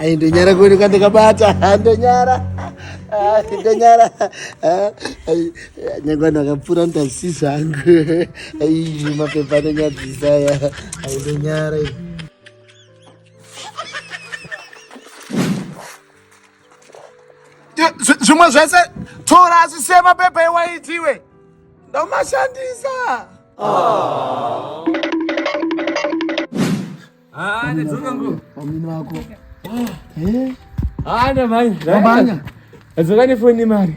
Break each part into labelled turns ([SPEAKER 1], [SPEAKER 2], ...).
[SPEAKER 1] Ayi ndonyara kuni kande kabata ndonyara ndonyara nyangwa ndakapfura ndasi zvangu ayi mapepa anonyadzisa ya ayi ndonyara zvimwe zvese tora asisema pepa iwaitiwe ndomashandisa
[SPEAKER 2] adzoka
[SPEAKER 1] nefoni
[SPEAKER 2] mari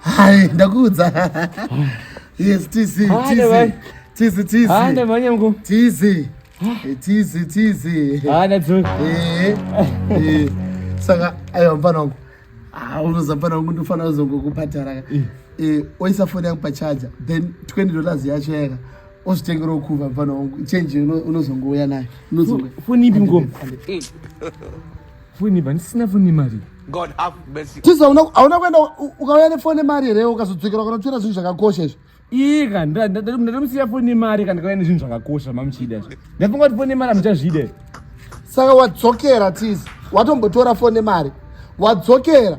[SPEAKER 1] Hai, ndakuudza. Yes, tizi, tizi. Tizi, tizi. Ah,
[SPEAKER 2] ndamanya mko. Tizi. Eh,
[SPEAKER 1] tizi, tizi.
[SPEAKER 2] Ah, nadzoka. Eh. Eh.
[SPEAKER 1] Saka ayo mfana wangu. Ah, unoza mfana wangu ndofana uzongokupatara. Eh. Eh, oisa phone yangu pa charger. Then 20 dollars yacho yaka. Ozvitengera ukuva mfana wangu. Change unozongouya nayo. Unozongouya. Phone ipi
[SPEAKER 2] mko? Foni vandisina foni mari. God have mercy.
[SPEAKER 3] Tiza una hauna kuenda
[SPEAKER 1] ukauya nefoni mari here ukazodzokera ukanotora zvinhu zvakakosha izvi. Ika
[SPEAKER 2] ndatomusiya foni mari kana kauya nezvinhu zvakakosha mamuchida izvi. Ndafunga kuti foni mari amuchazvida. Saka
[SPEAKER 1] wadzokera Tiza watombotora foni mari wadzokera.